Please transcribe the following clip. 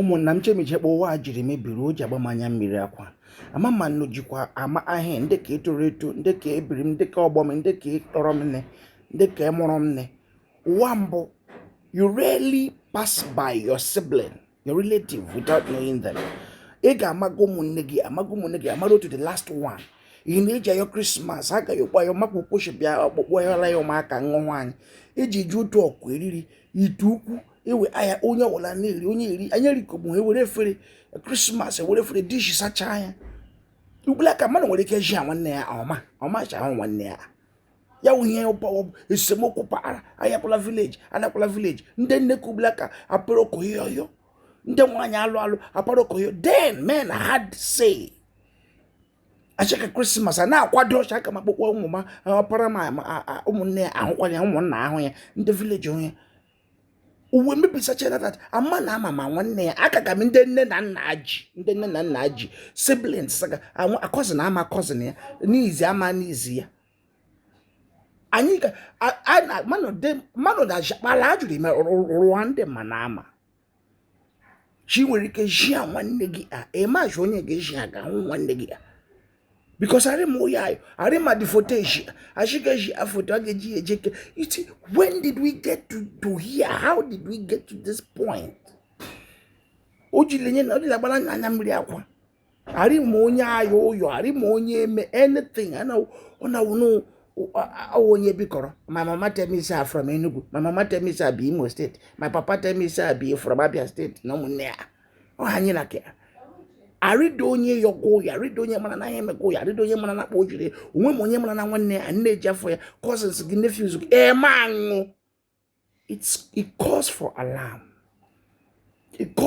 ụmụnna m chee m iche kpa ụwa a jiri mebiri o ji agba m anya mmiri akwa ama ma nnu jikwa ama ahịa ndị ka etoro eto ndị ka ebiri m ndị ka ọgbọ m ndị ka ịtọrọ m nne ndị ka ịmụrụ m nne ụwa mbụ you rarely pass by your sibling your relative without knowing them ị ga-amaga ụmụnne gị amaga ụmụnne gị amara to the last one ị na-eji ayọ Christmas agaghị ụkpọ ya makwa ụkpochi bịa ọkpụkpọ yala ya ụmụaka nwaanyị iji e ji otu ọkụ eri nri ite ukwu ewe ahịa onye ọbụla na-eri onye eri anyị erikọgbu ha ewere efere Christmas ewere efere dish sachaa anya ugbula ka mmadụ nwere ike ji ya nwanne ya ọma ọma ji ahụ nwanne ya ya wụ ihe ụpawa bụ esemokwu paghara ayọkwala village anakwala village ndị nne ka ugbula ka apụrụ okoyoyo ndị nwaanyị alụ alụ apụrụ okoyo then men had say achịka Christmas a na-akwado ọcha aka m akpụkpọ ụmụ m ọpara m ụmụnne ya ahụkwanye ụmụnna ahụ ya ndị village onye ụwa emebisachara that ama na ama ma nwanne ya aka ka m ndị nne na nna ji ndị nne na nna ji siblings ga a cousin ama cousin ya niece ama niece ya anyị ga mmanụ na-akpara ajụrụ ime rụwa ndị ma na ama chi nwere ike jia nwanne gị a ịmajụ onye ga-eji aga ahụ nwanne gị a because arịma onye ayọ arịma dị foto eji achịgaji afoto a ga-eji ya ejeke iti when did we get to, to here how did we get to this point o jiri nye na ọ dịla gbara anya mmiri akwa ari ma onye ayọ ụyọ ari ma onye eme anything ọnawụnụ ọwụ onye bikọrọ my mama tell me say I'm from Enugu my mama tell me say I be Imo State my papa tell me say I be from Abia State na ụmụnne ya ọ ha anyị na ke arịda onye yọga ụyọ arịda onye mara na ihe emega ụyọ arịda onye mara na akpa o jiri onwe m onye mara na nwanne ya nne ji afọ ya cousins gị nephews gị eme aṅụ it calls for alarm it calls